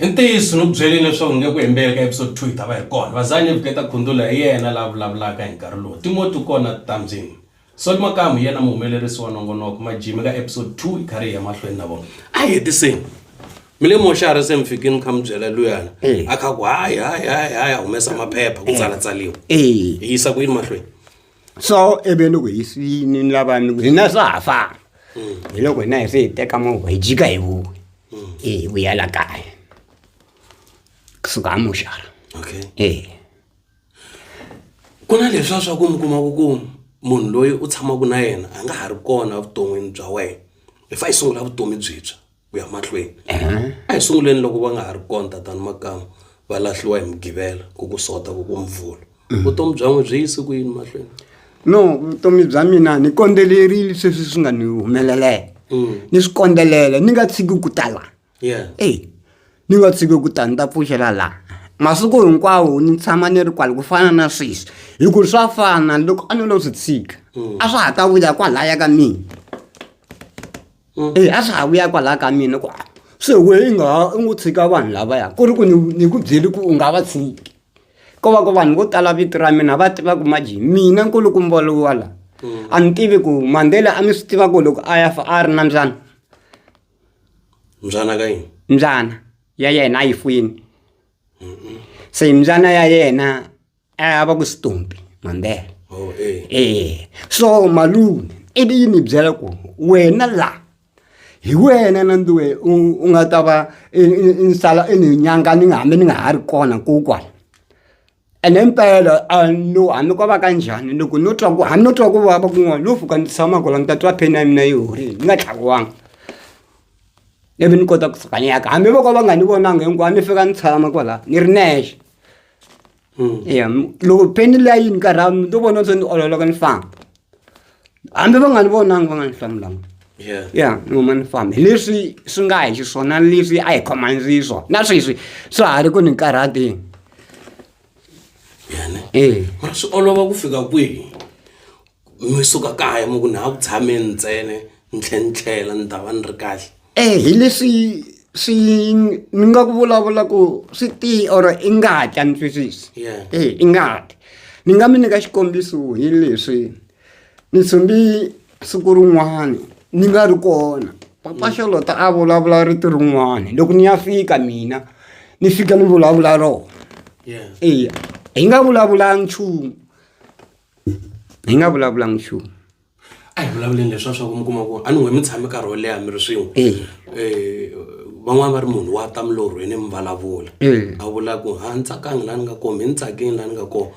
i ntiyiso ni ku byele leswaku nge ku hembeleka episode two yi ta va hi kona vazani ni vuketa khundula hi yena la vulavulaka hi nkarhi lowu timoti kona tambyini soli makamu hi yena muhumelerisi wa nongonoko majimi ka episode two yi kha ri hi emahlweni na vona a hi hetiseni mi le moxari se mi fikini mi kha mi byela luyana Eh. a kha ku hayi hayi hayi hayi a humesa maphepha ku tsalatsaliwa Eh. hi yisa ku yini mahlweni so ivi ni ku hi swi- ni ni lava ni ku hina swa ha famba hi loko hina hi se hi teka movha hi jika hi vuya hi vuya la kaya kusuka amuxara okay e ku na leswiya swa ku mi kuma ku ku munhu loyi u tshamaka na yena a nga ha ri kona evuton'wini bya wena hi fa hi sungula vutomi byintshwa ku ya mahlweni a hi sunguleni loko va nga ha ri kona tatana makama va lahliwa hi mugivela ku ku sota ku ku mvula vutomi bya n'wi byi yisi ku yini mahlweni no vutomi bya mina ni kondzelerile sweswi swi nga ni humeleleke Mm. ni swi kondzelela ni nga tshiki ku ta la yeah eyi ni nga tshiki ku ta ni ta pfuxela laha masiku hinkwawo ni tshama ni ri kwala ku fana na sweswi hi ku swa fana loko a ni lo swi tshika a swa ha ta vuya kwalaya ka mina eyi a swa ha vuya kwalaya ka mina ku se wehe i nga ha u ngo tshika vanhu lavaya ku ri ku ni ni ku byele ku u nga va tshiki ko va ku vanhu vo tala vito ra mina va tiva ku majini mina nkulukumba lowa la a ni tivi ku mandela a ni swi tiva ku loko a ya fa a ri na mbyana mbyana ka yini mbyana ya yena a yi fuyini se mbyana ya yena a va ku stompi mandela oh, eh. eh. so malume i vi yi mi byela ku wena la hi wena na ndiwe u nga ta va ni sala i ni nyanga ni nga hambi ni nga ha ri kona kokwala ene mpela a no hambi ko va ka njhani loko no twa ku hambi no twa ku vava kun'wana no fuka ni tshama kola ni ta twa pheni ya mina yi horile ni nga tlhakiwanga ivi ni kota ku tsakanyaka hambi voko va nga ni vonanga hinkwawo ni fika ni tshama kwala ni ri nexe ya loko peni liya yi ni karha mi to vona se ni ololoka ni famba hambi va nga ni vonangi va nga ni hlamulanga Yeah. ya ni huma ni famba hi leswi swi nga hi xiswona ni leswi a hi khomanisi swona na sweswi swa ha ri ku ni karhatini Yeah, ne? ee Mara swi olova ku fika kwihi mi suka kaya mi ku na ha ku tshameni ntsene ni tlhe ni tlhela ni ta va ni ri kahle Eh, hi leswi swi ni nga ku vulavula ku swi ti or i nga hatla ni twisisi Yeah. eh i nga hatli ni nga mi nyika xikombiso hi leswi ni tshumbi siku rin'wana ni nga ri kona papa xolota a vulavula rito rin'wana loko ni ya fika mina ni fika ni vulavula rona yeah eya hi nga vulavulanga nchumu hi nga vulavulanga nchumu a hi vulavuleni leswa swa ku mi kuma ku a ni n'we mi tshame nkarhi wo leha mi ri swin'we Eya. Eh, van'wana va ri munhu wa ta milorhweni mi vulavula Eya. a vula ku ha ni tsakangi laha ni nga kona mi ni tsakini laha ni nga kona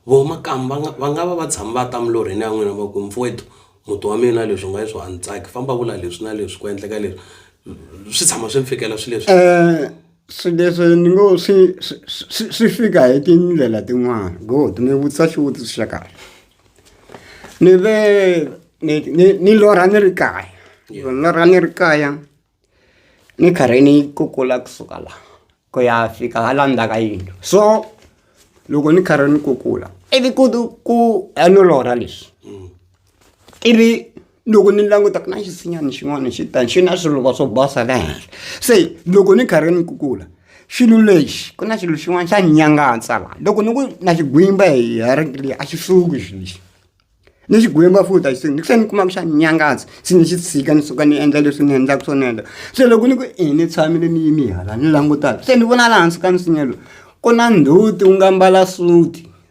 vo makamu va nga va nga va va tshami va ta milorhweni ya n'wina va ku mfowethu muti wa mina leswi nga leswi a ni tsaki famba vula leswi na leswi ku endleka leswi swi tshama swi mi fikela swi leswi Eh, Swilo leswi ni ngo swi swi swi swi fika hi tindlela tin'wani good mi vutisa xivutiso xa kahle ni ve ni ni ni lorha ni ri kaya loko ni lorha ni ri kaya ni karhi ni kukula kusuka la ku ya fika hala ndzhaka yindlu so loko ni karhi ni kukula ivi ku ku a no lorha lexi. ivi loko ni languta ku na xisinyani xin'wana xi ta xi na swiluva swo basa la henhla se loko ni karhi ni kukula xilo lexi ku na xilo xin'wana xa nyangatsa la loko ni ku na xigwimba hi rito leri a xi suki xilo lexi ni xigwimba futhi a xi suki ni tlhela ni kuma ku xa nyangatsa se ni xi tshika ni suka ni endla leswi ni endlaka swona endla se loko ni ku i ni tshamile ni yime hala ni langutaka se ni vona laha hansi ka nsinya lowu ku na ndzhuti wu nga mbala suti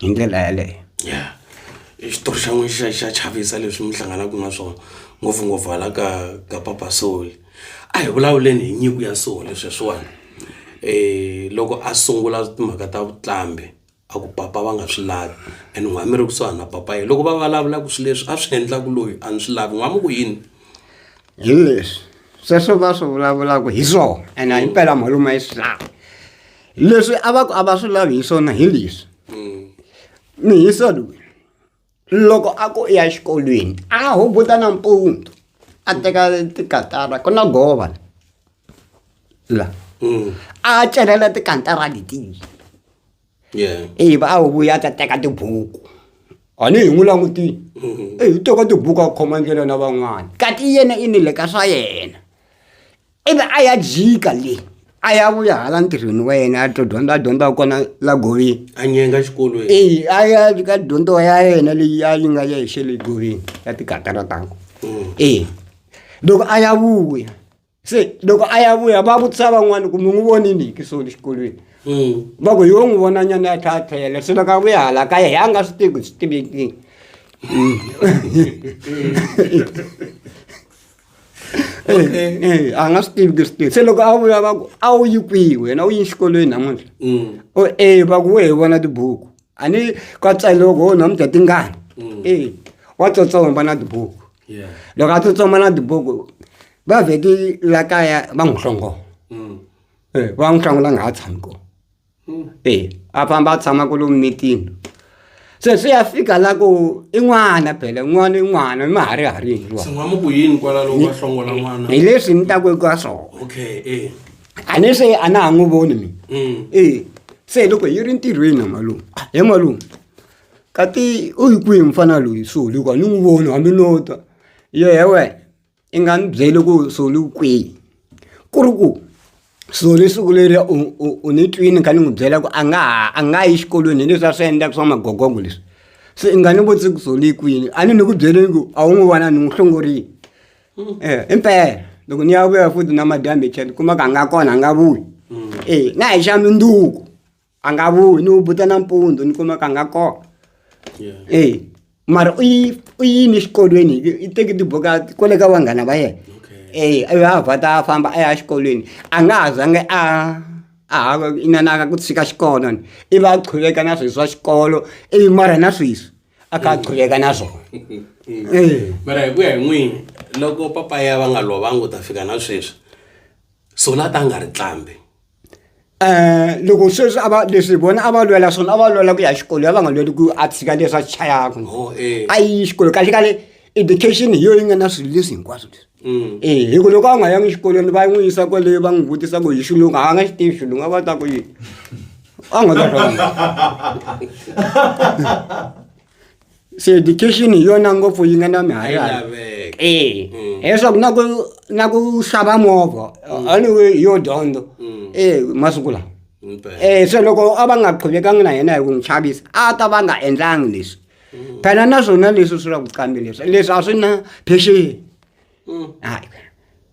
hi ndlela yaleyo ya i xitori xa n'wi xa xa chavisa leswi mi hlanganaka na swona ngopfungopfu hala ka ka papa soli a hi vulavuleni hi nyiko ya soli sweswiwani um loko a sungula timhaka ta vuqambhi a ku papa va nga swi lavi and n'wina mi ri kusuhani na papa yena loko va vulavulaka swilo leswi a swi endlaka loyi a ni swi lavi n'wina mi ku yini hi leswi sweswo va swi vulavulaka hi swona ene himpela malume a yi swi lavi leswi a va ku a va swi lavi hi swona hi leswi mihisa loyi loko a ku ya xikolweni a hubuta nampundzu a teka tikatara ku na gova la mm. a celela tikantara letiyi ivi a huvuya ta teka tibuku ani hi n'wi langutile mm-hmm. eyi u teka tibuku a khoma ndlela na van'wana kati yena i ni le ka swa yena Ivi a ya jika le a ya vuya hala ntirhweni wa yena a to dyondza a dyondza kona la goveni a nyenga xikolweni eyi a ya ka dyondzo ya yena leyi a yi nga ya hi xele goveni ya tikatara tango mm. eyi loko a ya vuya se loko a ya vuya va vutisa van'wana ku mi n'wi vonini hi kisoni xikolweni mm. va ku yo n'wi vona nyana ya tlhatlhela se loko a vuya hala ka ye hi a nga swi tivi swi tivekini mm. Okay. Eh, eh, a nga swi tivi ku swi tirhi se loko a vula va ku a wu yi kwihi wena u yi xikolweni namuntlha Mm. o e va ku we hi vona tibuku a ni ka tsaloko ho namuntlha tingani Mm. e wa tsotsomba na tibuku Yeah. loko a tsotsomba na tibuku va vheti la kaya va n'wi hlongola Mm. Eh, va n'wi hlongola a nga ha tshami kona eya a famba a tshama kwala mimitini se swi ya fika la ku i n'wana phela n'wana i n'wana ma ha ri ha ri hi leswi ni taku eka swona eh. a ni se a na ha n'wi voni mina mm. e se loko yi ri ntirhweni na malume ah, he malume kati u yi kwihi mfana loyi soli hikuva ni n'wi voni hambi no ta yo he wena i nga ni byeli ku Soli u kwihi ku ri ku Soli siku leriya u u u ni twini ni kha ni n'wi byela ku a nga ha a nga yi xikolweni hi leswiya swi endlaka swa magogongo leswi se i nga ni vutisi ku Soli i kwini a ni ni ku byele ku a wu n'wi vona ni n'wi hlongorile i mpela loko ni ya vuya futhi namadyambe hi tlhela ni kuma ku a nga kona a nga vuyi e na hi xa mundzuku. a nga vuyi ni wu buta nampundzu ni kuma ka nga kona e mara u yi u yini exikolweni i teki tibuku a kwale ka vanghana va yena e a ya vha ta famba a ya exikolweni a nga ha zangi a a ha inanaka ku tshika xikolo ni i va a qhuveka na swi swa xikolo ivi mara na sweswi a ka a qhuveka na swona e mara hi ku ya hi n'wini loko papa ya va nga lovanga u ta fika na sweswi so la ta nga ri tlambi loko sweswi a va leswi vona a va lwela swona a va lwela ku ya xikolweni a va nga lweli ku a tshika leswi a swi chayaka oh, eh. a yi xikolo kahlekahle education hi yo yi nga na swilo leswi hinkwaswo leswi mm. e hi ku loko a nga yangi xikolweni va n'wi yisa kwaleyo va n'wi vutisa ku hi xilungu a nga xi tivi xilungu a va ta ku yini a nga ta se education hi yona ngopfu yi nga na mihayo e leswaku na ku na ku xava movha mm. anyway hi yo dyondzo mm. e masiku lawa e se loko a va nga qhuvekangi na yena hi ku n'wi chavisa a ta va nga endlangi leswi mm. phela na swona leswi swi ra ku qambi leswi leswi a swi na phexeni hayi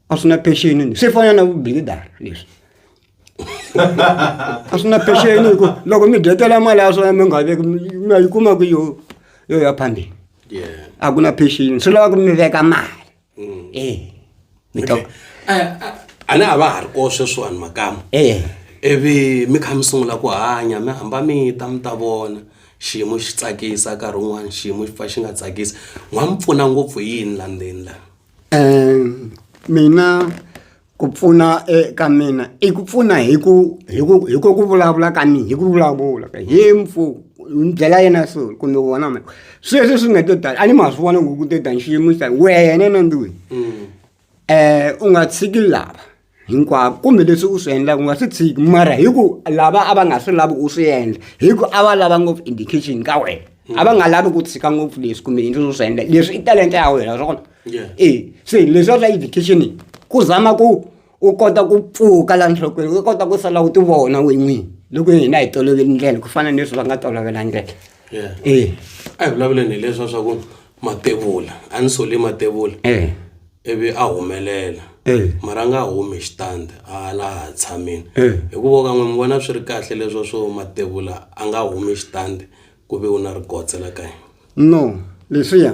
a swi na phexeni swi fana na vubilidara leswi a swi na pexeni hi ku loko mi dyetela mali ya swona mi nga veki mi yi kuma ku yo yo ya phambili a ku na pexeni swi lava ku mi veka mali mm. e mi to a ni a va ha ri ko sweswiwani makama e ivi mi kha mi sungula ku hanya mi hamba mi ta mi ta vona xiyimo xi tsakisa nkarhi wun'wana xiyimo xi pfa xi nga tsakisi n'wa mi pfuna ngopfu yini la ndzeni la um mina Ku pfuna eka mina i ku pfuna hi ku hi ku hi ku ku vulavula ka mina hi ku vulavula ka hi mpfu ni byela yena so kumbe wona ma sweswi swi nga to tala a ni ma swi vona ku ku to ta nxiyimo xa wena na ndlwini um u nga tshiki lava hinkwavo kumbe leswi u swi endlaka u nga swi tshiki mara hi ku lava a va nga swi lavi u swi endla hi ku a va lava ngopfu indication ka wena a va nga lavi ku tshika ngopfu leswi kumbe yini leswi u swi endla leswi i talenta ya wena swona. yeah. e se leswiwa swa education yi ku zama ku u kota ku pfuka la nhlokweni u kota ku sala u ti vona we n'wini loko hina hi toloveli ndlela ku fana ni leswi va nga tolovela ndlela e a hi vulavuleni hi leswa swa ku matevula a ni sole matevula e. ivi a humelela e. mara a nga humi xitandi a laha tshamini e. hikuva kan'we mi vona swi ri kahle leswa swo matevula a nga humi xitandi ku ve u na rigotse la ka yena no leswiya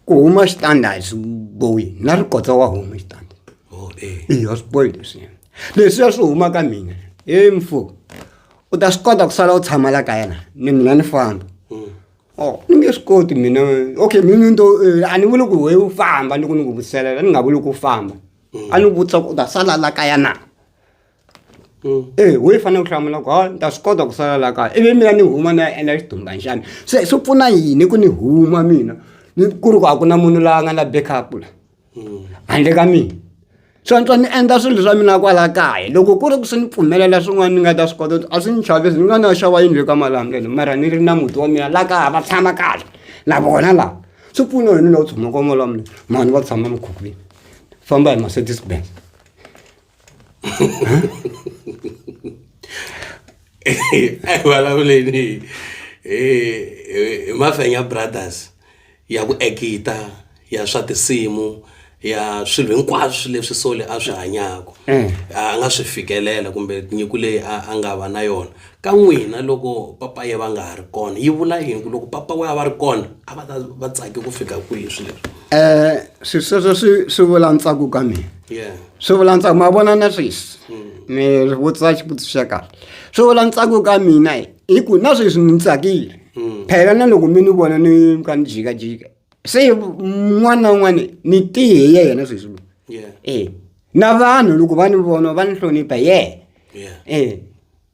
ku huma xitanda a swi bohi na ri kotsa wa huma xitanda oh, eh. eyi a swi bohi leswiya leswiya swi huma ka mina he mfo u ta swi kota ku sala u tshama la ka yena ni mina ni famba hmm. o oh, ni nge swi koti mina okay mina nto eh, a ni vuli ku we u famba ni ku ni ku vuselela ni nga vuli ku famba hmm. a ni vutisa ku u ta sala la ka yena e ho yi fanele ku hlamula ku ni ta swi kota ku sala la kaya ivi mina ni huma ni ya endla xidumban xana se swi pfuna yini ku ni huma mina ni ku ri ku a ku na munhu la nga na back up la handle ka mina so ni twa ni endla swilo swa mina kwala kaya loko ku ri ku swi ni pfumelela swin'wana ni nga ta swi kota a swi ni chavisi ni nga na xava yindlu eka malambe ni mara ni ri na muti wa mina la kaya va tshama kahle na vona la swi pfuna yini loko u tshama ka mali wa mina mhani va tshama mikhukhwini famba hi Mercedes Benz. a vulavuleni hi mafenya brothers ya ku ekita ya swa tinsimu ya swilo hinkwaswo leswi sole a swi hanyaka mm. a nga swi fikelela kumbe nyiko leyi a nga va na yona Ka n'wina loko papa yeva nga ha ri kona yi vula yini ku loko papa weva va ri kona a va ta va tsake ku fika kwihi swi leswi um swi sweswo swi swi vula ntsako ka mina yeah swi vula ntsako ma vona na sweswi mi ri vutisa xivutiso xa kahle swi vula ntsako ka mina hi hi ku na sweswi ni tsakile phela na loko mi ni vona ni ka ni jikajika se n'wana na un'wana ni tihe hi yena sweswi lowu yeah e na vanhu loko va ni vona va ni hlonipha hi yena yeah e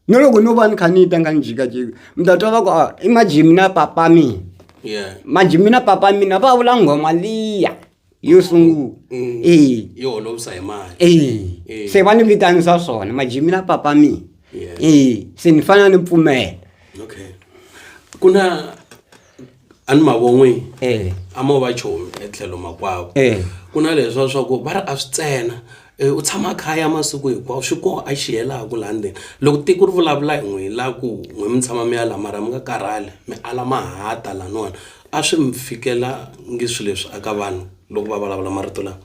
no loko no va ni kha ni yi tanga ni jikajika mi ta twa va ku ah, i majimi na papa mina yeah majimi na papa mina va vula nghoma liya yo sungula Mm. e yo holovisa hi mali e Eh. se va ni vitanisa swona majimi na papa mina Yeah. e se ni fanele ni pfumela okay ku na a ni mavon'wini eh. a mo va chomi etlhelo makwavo eh. ku na leswa swa ku va ri a swi tsena eh, u tshama khaya masiku hinkwawo swi koho a xi helaku laha ndzeni loko tiko ri vulavula hi n'wi la ku n'wi mi tshama mi yala mara mi nga karhali mi ala mahata laniwani a swi mi fikela ngi swi leswi aka vanhu loko va vulavula marito lawa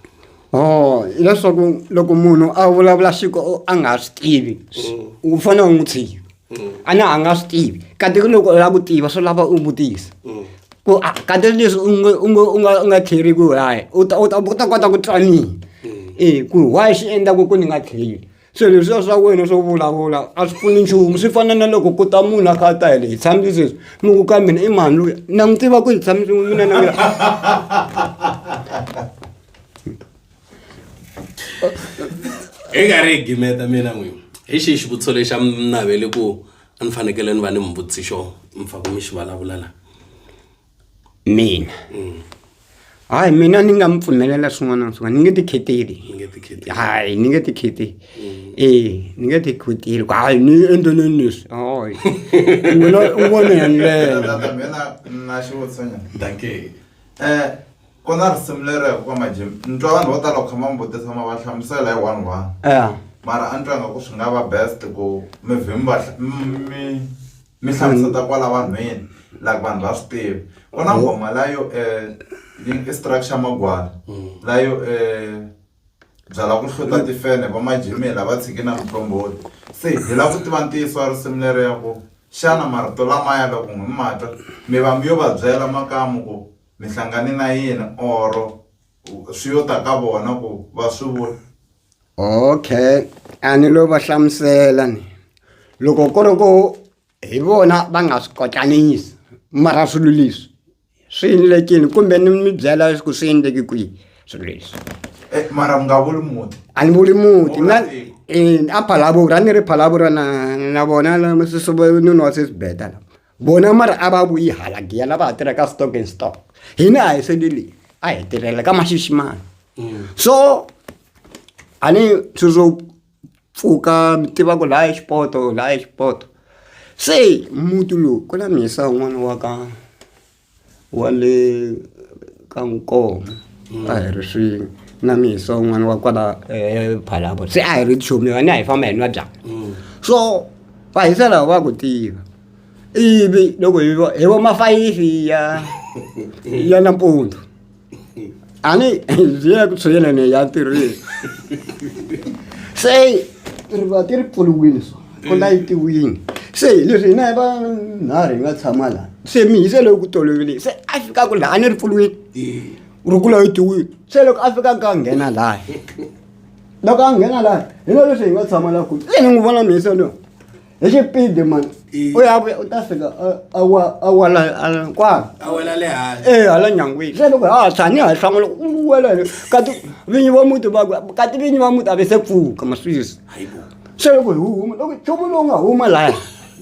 o oh, hileswaku loko munhu a vulavula xiko a nga swi tivi mm. u fanele u n'wi tshiva mm. a na a nga swi tivi kati ku loko u lava ku tiva swi lava u vutisa mm. ku a kati leswi u nga u nga u nga u nga tlheri ku hayi u ta u ta u ta kota ku twanini mm. e ku why xi endlaku ku ni nga tlheri so leswiya swa wena swo vulavula a swi pfuni nchumu swi fana na loko ku ta munhu a kha a ta hi le hi tshami sweswi mi ku ka mina i mhani loyi na n'wi tiva ku hi tshami swin'we mina na mina hi nga ri hi gimeta mina n'wini hi xihi xivutiso lexi a mi naveli ku a ni fanekele ni va ni mi vutisi xo mi faka mi xi vulavula la mina hayi mina ni nga mi pfumelela swin'wana na swin'wana ni nge ti kheteli ni nge ti kheti hayi ni nge ti kheti ee ni nge ti kheteli ku hayi ni endleleni leswi hayi wena u vone hi ndlela Tata, mina na xivutiso nyana. danke Eh, Kona risimu lero ya kokwa Majimbi ni twa vanhu vo tala ku kha va mi vutisa ma va hlamusela hi one one mara a ni twa nga ku swi nga va best ku mi vhim va mi mi hlamuseta kwala vanhwini like vanhu va swi tiva ku na nghoma la yo i structure magwala la yo byala ku hluta tifene va Majimbi la va tshiki na muqombhoti se hi la ku tiva ntiyiso wa risimu lero ya ku xana marito lamaya loko mi ma twa mi va mi yo va byela makamu ku. mi hlangane na yini or swi yo ta ka vona ku va swi vula okay a ni lo va hlamusela ni loko ku ri ku hi vona va nga swi kotlanisi mara swilo leswi swi endlekile kumbe ni mi byela ku swi endleke kwihi swilo leswi eh, mara mi nga vuli muti a ni vuli muti na eh, a phalavura a ni ri phalavura na na vona nuna wa sesibeta la vona mara a va vuyi hala giya lava ha tirhaka stock and stock hina a hi sendeleni a hi tirhela ka maxiximani mm. so a ni tsundzu pfuka mi tiva ku laha xipoto laha xipoto se muti lowu ku na mhisa un'wana wa ka wa le ka nkomo a hi ri swin'we na misa un'wana wa kwala ephalapo se a hi ri chomi vane a hi famba hi nwa byala so va hisela va ku tiva ivi loko hi vo hi vo mafayifi ya ya nampundzu ani ndzi ya ku tshwela ne ya tirhile se ri va ti ri pfuriwile so ku layitiwile se leswi hina hi vanharhu hi nga tshama laha se mi hi se loyi ku tolovelile se a fika ku laha a ni ri pfuriwile ri ku layitiwile se loko a fika ka nghena laha loko a nghena laha hi na leswi hi nga tshama laha ku se ni n'wi vona mihisa loyi hi xipidi mani u ya vuya u ta fika a wa a wa la a la kwala a wela le hansi eh hala nyangwini se loko ha tshani ha hlanga loko u wela le ka ti vinyi va muti va ku ka ti vinyi va muti a ve se pfuka maswisi hayibo se loko hi wu huma loko nchumu lowu nga huma laya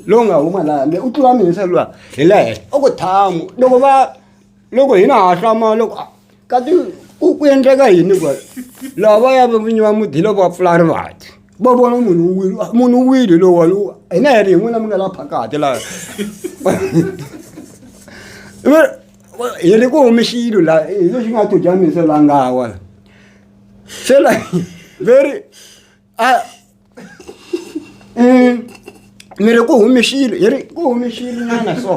lowu nga huma laya me u tlula mina se luwa hi le henhla u ku thamu loko va loko hina ha hlama loko a- kati ku ku endleka yini kwa lava ya vinyi va muti loko va pfula rivati va vona munhu u wile munhu u wile lowani hina hi ri hi n'wina mi nga la phakati laha hi ri ku humi xilo la hi lexi nga tudyamisa la ngawa se la ve ri a Mm. mi ri ku humixile hi ri ku humixile nyana so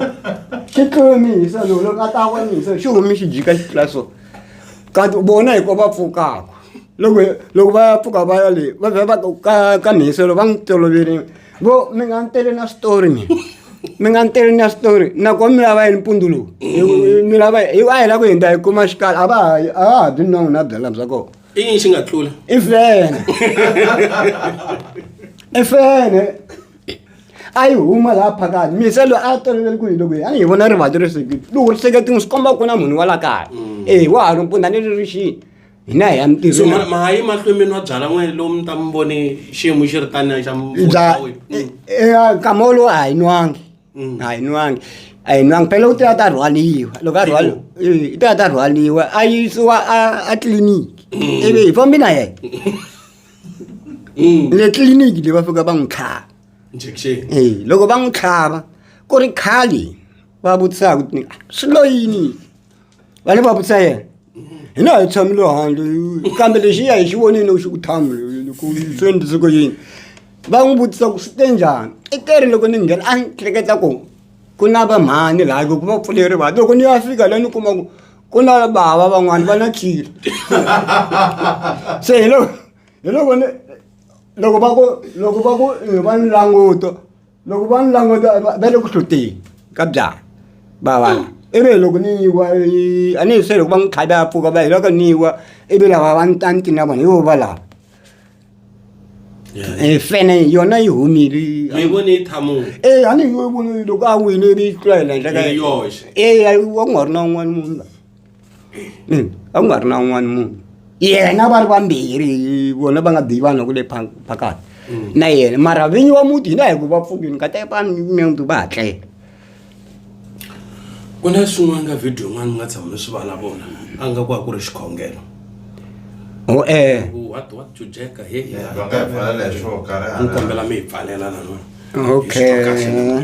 xi tlumisa lowu loko a ta vonisa xi humi xi jika xi tlula so kanti vona hi ko va pfukaka loko loko va ya pfuka va ya le va vhe va ku ka ka mihiselo va n'wi tolovele vo mi nga ni tele na switori mina mi nga ni tele na switori nakona mi lava yini mpundu lowu Hi- mi lava hi a hi la ku hindza hi kuma xikala a va ha a va ha byi nongo na byala bya kona i yini xi nga tlula i fene i fene a yi huma laha phakani mise loyi a tolovele ku hi loko a ni hi vona rivanti ri sekile loko ri sekete n'wi swi komba ku na munhu wa la kaya mm. e wa ha ri mpunda ni ri ri xini hina hi ya mitirhonmahayi mahlweni mi nwa byala n'wene lowu mi ta mi vone xiyimo xi ri taniya xa mm. e, e, nkama wolowo a hi nwangi Mm. a yi nwangi a yi nwangi phela u te a ta rhwaliwa loko a rhwaliwa i te a ta rhwaliwa a yisiwa a tliliniki mm. ivi hi fambi na yena mm. le tliliniki leyi va fika va n'wi tlhava e loko va n'wi tlhava ku ri khale va vutisaka swi loyini va le va vutisa yena hi na hi tshamile handle kambe lexi ya hi xi vonile xi ku thamu ku swi endlise ku yini va n'wi vutisa ku swi te njhani i te ri loko ni nghena a ni hleketa ku ku na vamhani laha ku va pfuleri va loko ni ya fika la ni kuma ku ku na bava van'wani va na khile se hi loko hi loko ni loko va ku loko va ku va ni languto loko va ni languta va le ku hluteni ka byala va va ivi loko ni yiwa a ni hi se loko va n'wi tlhavi a pfuka va hi loko ni yiwa ivi lava va ni ta ni tina vona hi vo va lava Eh, fene yona yi humile eh, a ni yi voni loko a wile ivi yi tlula hi la ndleka eya wa ku nga ri na un'wana munhu la ina a ku nga ri na un'wana munhu yena va ri vambirhi vona va nga biyi vanhu va ku le pha- phakati na yena mara vinyi wa muti hina hi ku va pfukini ka teka vanhu muti va ha tlela ku na swin'wana ka video yin'wana mi nga tshama mi swi vulavula a nga ku a ku ri xikhongelo o eh Ku what what to jack he va nga hi pfalela hi swo karhi ni hala kombela mi hi pfalela lana Okay.